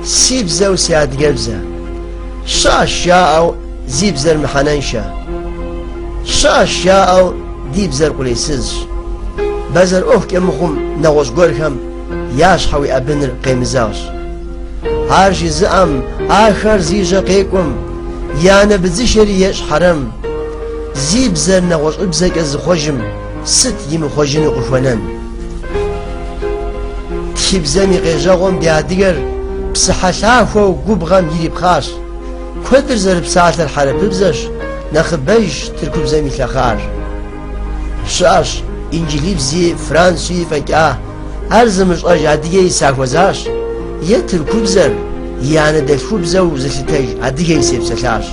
Си бзэу си адыгэбзэ. Щыӏэщ жаӏэу зи бзэр мыхьэнэншэ. Щыӏэщ жаӏэу ди бзэр къулейсызщ. Бэзэр ӏуэхукӏэ мыхъум нэгъуэщӏ гуэрхэм я щхьэ уеӏэбыныр къемызэгъщ. Ар жызыӏэм, ахэр зи жьэ къекӏуэм, и анэ быдзышэри ещӏ хьэрэм. Зи бзэр нэгъуэщӏыбзэкӏэ зыхъуэжым, Сыт имыхъуэжыну къыхуэнэн? Тхыбзэм и къежьэгъуэм ди адыгэр псыхьэлъахуэу губгъэм ирипхъащ. Куэдыр зэрыпсалъэр хьэрыпыбзэщ, нэхъыбэжщ тыркубзэм илъэхъар. Щыӏэщ инджылыбзи, француи фӏэкӏа, ар зымыщӏэж адыгэи сахуэзащ, е тыркубзэр и анэдэлъхубзэу зылъытэж адыгэи сепсэлъащ.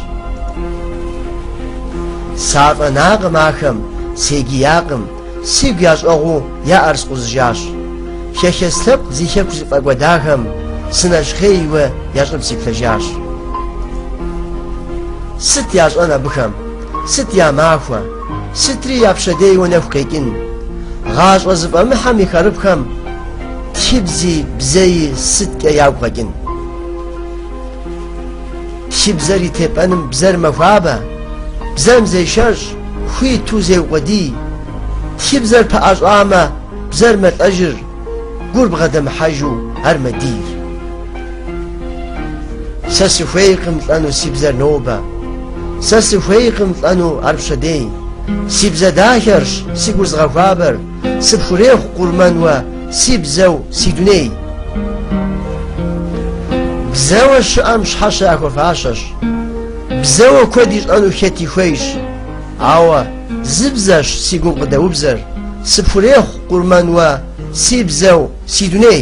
Сафӏэнакъым ахэм, сегиякъым, сигу ящӏэгъуу я ӏэр скъузыжащ. Хэхэс лъэпкъ зи хэку зыфӏэкӏуэдахэм сынэщхъейуэ я щӏыб сиплъэжащ. Сыт ящӏэн абыхэм, сыт я махуэ, сытри я пщэдейуэ нэху къекӏын. Гъащӏэ зыфӏэмыхьэ мы хъарыпхэм тхыбзи бзэи сыткӏэ ягу къэкӏын. Тхыбзэр и тепӏэным бзэр мэхуабэ, бзэм зешэщӏ, хуиту зеукъуэдий. Тхыбзэр пэӏэщӏэмэ, бзэр мэлӏэжыр, гур бгъэдэмыхьэжу ар мэдийр. Сэ сыхуейкъым лӏэну си бзэр нобэ, сэ сыхуейкъым лӏэну ар пщэдей. Си бзэ дахэрщ, си гур зыгъэхуабэр, сыпхурехъу къурмэн уэ Си бзэу, си дуней. Бзэуэ щыӏэм щхьэщэ яхуэфащэщ. Бзэуэ куэд ищӏэну хэти хуейщ. Ауэ зы бзэщ си гум къыдэубзэр. Сыпхурехъу къурмэн уэ, си бзэу, си дуней.